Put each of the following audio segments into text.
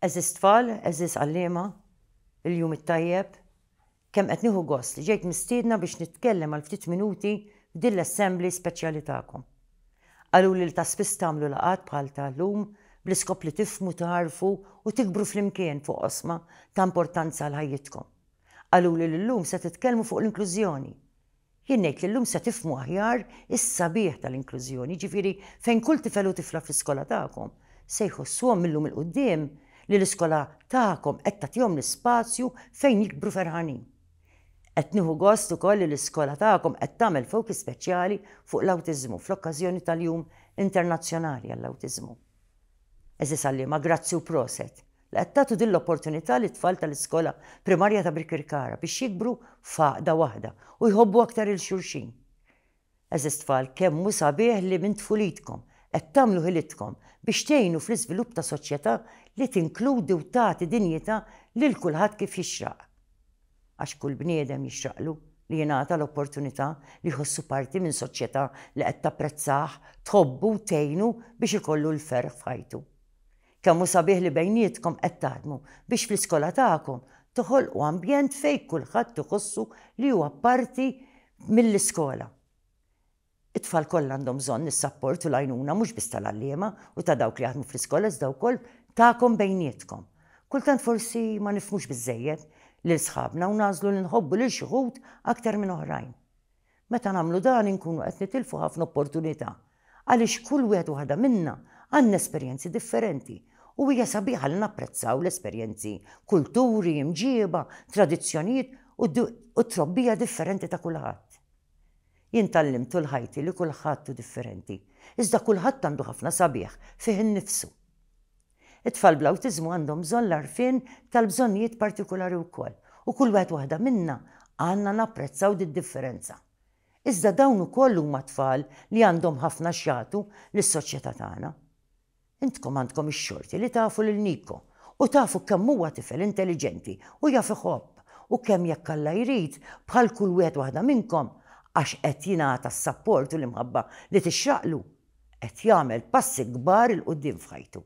Għeżież tfal, għeżież għalliema, il-jum it-tajjeb. Kemm qed nieħu gost li ġejt mistiedna biex nitkellem għal ftit minuti f'din l-assembly speċjali tagħkom. Qaluli li ta' spiss tagħmlu laqgħat bħal ta' llum bl-iskop li tifhmu, tagħrfu u tikbru flimkien fuq oqsma ta' importanza għal ħajjitkom. Qaluli li llum se titkellmu fuq l-inklużjoni. Jien ngħid li llum se tifhmu aħjar is-sabiħ tal-inklużjoni, jiġifieri fejn kull tifel u tifla fl-iskola tagħkom se jħossuhom mil-lum 'il quddiem li l-iskola tagħkom qed tagħtihom l-ispazju fejn jikbru ferħanin. Qed nieħu gost ukoll li l-iskola tagħkom qed tagħmel focus speċjali fuq l-awtiżmu fl-okkażjoni tal-Jum Internazzjonali għall-Awtiżmu. Għeżież għalliema, grazzi u proset li qed tagħtu din l-opportunità lit-tfal tal-iskola primarja ta' Birkirkara biex jikbru f'għaqda waħda u jħobbu aktar 'il xulxin. Għeżież tfal, kemm hu sabiħ li minn tfulitkom qed tagħmlu ħilitkom biex tgħinu fl-iżvilupp ta' soċjetà li tinkludi u tagħti dinjità lil kulħadd kif jixraq. Għax kull bniedem jixraqlu li jingħata l-opportunità li jħossu parti minn soċjetà li qed tapprezzah, tħobbu u tgħinu biex ikollu l-ferħ f'ħajtu. Kemm hu sabiħ li bejnietkom qed taħdmu biex fl-iskola tagħkom toħolqu ambjent fejn kulħadd iħossu li huwa parti mill-iskola. It-tfal kollha għandhom bżonn is-sapport u l-għajnuna mhux biss tal-għalliema u ta' dawk li jaħdmu fl-iskola iżda wkoll tagħkom bejnietkom. Kultant forsi ma nifhmux biżżejjed lil sħabna u nagħżlu li nħobbu lil xi wħud aktar minn oħrajn. Meta nagħmlu dan inkunu qed nitilfu ħafna opportunità għaliex kull wieħed u waħda minna għandna esperjenzi differenti u hija sabiħa li napprezzaw l-esperjenzi, kulturi, imġieba, tradizzjonijiet u t-trobbija differenti ta' kulħadd. Jien tgħallimt tul ħajti li kulħadd hu differenti, iżda kulħadd għandu ħafna sabiħ fih innifsu. It-tfal bl-awtiżmu għandhom bżonn l-għarfien tal-bżonnijiet partikulari wkoll u kull wieħed waħda minna għandna napprezzaw did-differenza. Iżda dawn ukoll huma tfal li għandhom ħafna x'jagħtu lis-soċjetà tagħna. Intkom għandkom ix-xorti li tafu lil Nico u tafu kemm huwa tifel intelliġenti u jaf iħobb u kemm jekk Alla jrid bħal kull wieħed waħda minnkom għax qed jingħata s-sapport u l-imħabba li tixraqlu qed jagħmel passi kbar 'il quddiem f'ħajtu.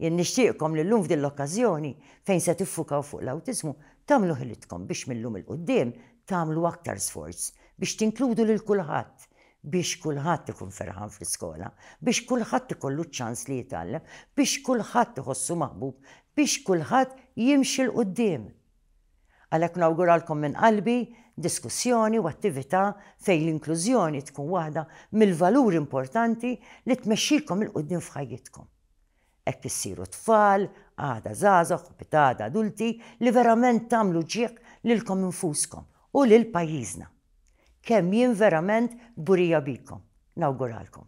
Jien nixtieqkom li llum f'din l-okkażjoni fejn se tiffukaw fuq l-awtiżmu tagħmlu ħilitkom biex mil-lum 'il quddiem tagħmlu aktar sforz biex tinkludu lil kulħadd, biex kulħadd ikun ferħan fl-iskola, biex kulħadd ikollu ċ-ċans li jitgħallem, biex kulħadd iħossu maħbub, biex kulħadd jimxi 'l quddiem. Għalhekk nawguralkom minn qalbi diskussjoni u attività fejn l-inklużjoni tkun waħda mill-valuri importanti li tmexxikom 'il quddiem f'ħajjitkom. Hekk issiru tfal, għada żgħażagħ u pitgħada adulti li verament tagħmlu ġieħ lilkom infuskom u lil pajjiżna. Kemm jien verament kburija bikom. Nawguralkom.